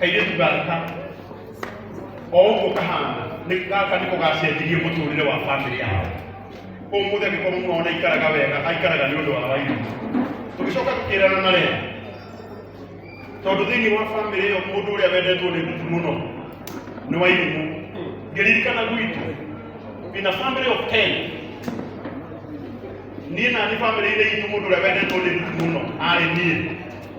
kairĩtu gaka o ũguo kahana nĩ- gaka nĩ kũgacenjirie mũtũrĩre wa bamĩrĩ yao ũmũthĩ angĩkorwo mũno ona aikaraga wega aikaraga nĩ ũndũ wa wairĩtu tũgĩcoka tũkĩrana na rĩa tondũ thĩinĩ wa bamĩrĩ ĩyo mũndũ ũrĩa wendetwo nĩ gutu mũno nĩ wairĩtu ngĩririkana gwitũ in a family of 10 niĩ na nĩ bamĩrĩ-inĩ itũ mũndũ ũrĩa wendetwo nĩ gutu mũno arĩ niĩ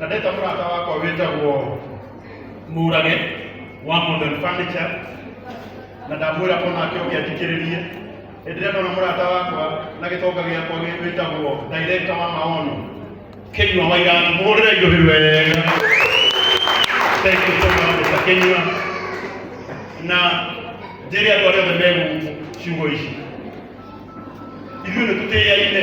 na ndeta mũrata wakwa wĩtagwo mũrage wa modern furniture na ndamwĩra ko nake ũngĩathikĩrĩrie hĩndĩ ĩrĩa ndona mũrata wakwa na gĩtonga gĩakwa gĩ- wĩtagwo director wa maono kĩnyua wa iratũ mũhũrĩre igũrĩ wega thank you so much Mr. kĩnyua na njĩrĩ andũ arĩa othe megũkũ ciugo ici ithuĩ nĩ tũtĩaine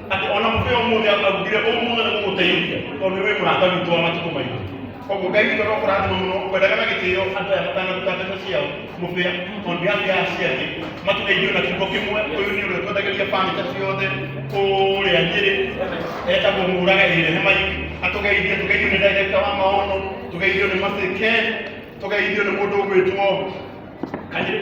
atĩ ona mũthĩ ũmũthĩ arugire ũmũthĩ na gũgũteithia tondũ nĩ wĩ mũrata witũ wa matukũ maitũ koguo ngai witũ no kũrathima mũno kwendaga na gĩtĩo andũ aya matanaruta ndeto ciao mũbĩa on behalf ya aciari matũgeithio na kiugo kĩmwe ũyũ nĩ ũrĩa twendagĩria bamĩta ciothe kũrĩa nyĩrĩ etagwo mũraga ĩrĩ nĩ maiki atũgeithie tũgeithio nĩ ndagĩka wa maono tũgeithio nĩ maceke tũgeithio nĩ mũndũ ũgwĩtwo kanyĩrĩ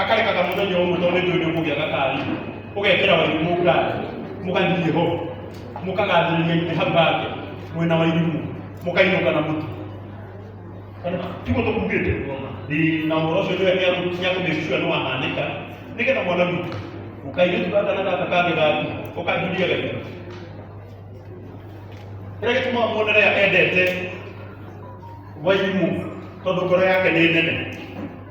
akarekaga mũthenya ũmwe tondũ nĩ ndũĩ nĩũkũgĩa na kari ũgekĩra wairimũ ngari mũgathiĩ ho mũkagathĩrĩria itĩ hau hake mwena wa irimũ mũkainũka na mũtu Kana, tiguo tũkugĩte Ĩ, na ũhoro ũcio nĩwe nĩakũmĩcua nĩ wahanĩka nĩgetha mwana witũ ũkairĩtu gaka na gaka kangĩ gaku ũkanjuria gaitũ kĩrĩa gĩtũmaga muonere endete wairimũ tondũ ngoro yake nĩ nene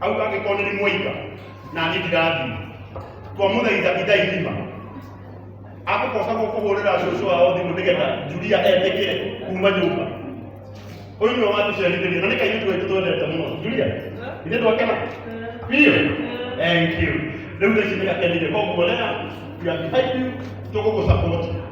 hau angĩkorwo nĩ mwaira na niĩ ndirathima twamũthaitha ithaithima akũkocagwo kũhũrĩra cũcũ wao thimũ nĩgetha juria etĩkĩre kuma nyũmba ũyũ nĩwe watũcerithĩria na nĩ kairĩtu gaitũ twendete mũno juria ithe twakena biũ thank you rĩu thaa ici nĩ gakenire koguo rĩa we are behind you tũgũgũsapoti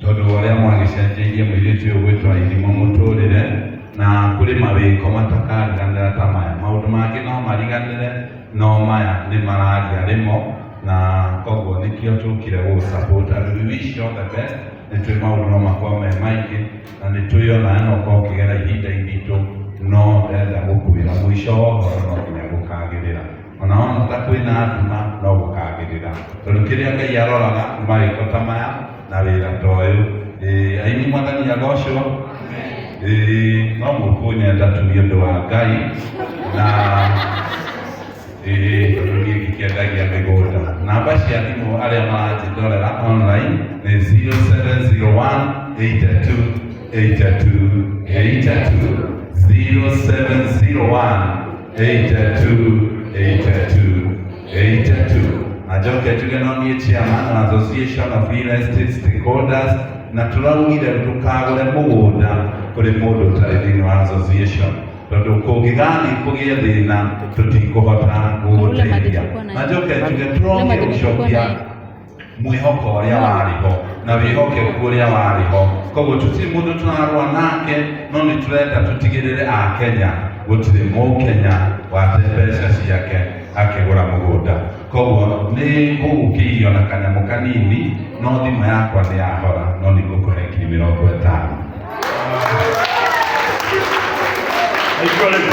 tondũ wa ũrĩa mwagĩcenjeirie mũirĩtu ũyũ gwĩtwa irimũ mũtũrĩre na kũrĩ mawĩko matakariganĩra ta maya maũndũ mangĩ no mariganĩre no maya nĩ mararia rĩmo na koguo nĩkĩo tũkire gũ support and we wish you all the best nĩ twĩ maũndũ no makorwo me maingĩ na nĩ twĩ ona no ũkorwo ũkĩgera ihinda iritũ no ndenda gũkwĩra mũico wa ũhoro no nginya gũkagĩrĩra ona wona ta kwĩna nduma no gũkagĩrĩra tondũ kĩrĩa ngai aroraga nĩ marĩko ta maya na wĩra ta ũyũ Ĩĩ, aini mwathani agocwo Ĩĩ, no mũkũnyenda tu nĩ ũndũ wa ngai na Ĩĩ, tondũ niĩ ngĩkĩendagia mĩgũnda namba cia thimũ arĩa maranjĩndorera online nĩ 0701 82 82 82 0701 Eight and two, eight and two, eight and two. Na njoke njuge no niĩ chairman wa Association of Real Estate Stakeholders na tũraugire ndũkagũre mũgũnda kũrĩ mũndũ ũtarĩ thĩinĩ wa association tondũ kũngĩgathiĩ kũgĩe thĩna tũtikũhota gũgũteithia na njoke njuge tũrongire gũcokia mwĩhoko ũrĩa warĩ ho na wĩhokeku ũrĩa warĩ ho koguo tũtirĩ mũndũ tũrarũa nake no nĩ tũrenda tũtigĩrĩre akenya gũtirĩ mũkenya wate mbeca ciake akĩgũra mũgũnda koguo nĩ kũgũkĩirio na kanyamũ kanini no thimũ yakwa nĩ yahora no nĩ ngũkũhe ngiri mĩrongo ĩtano Nĩguo rĩu.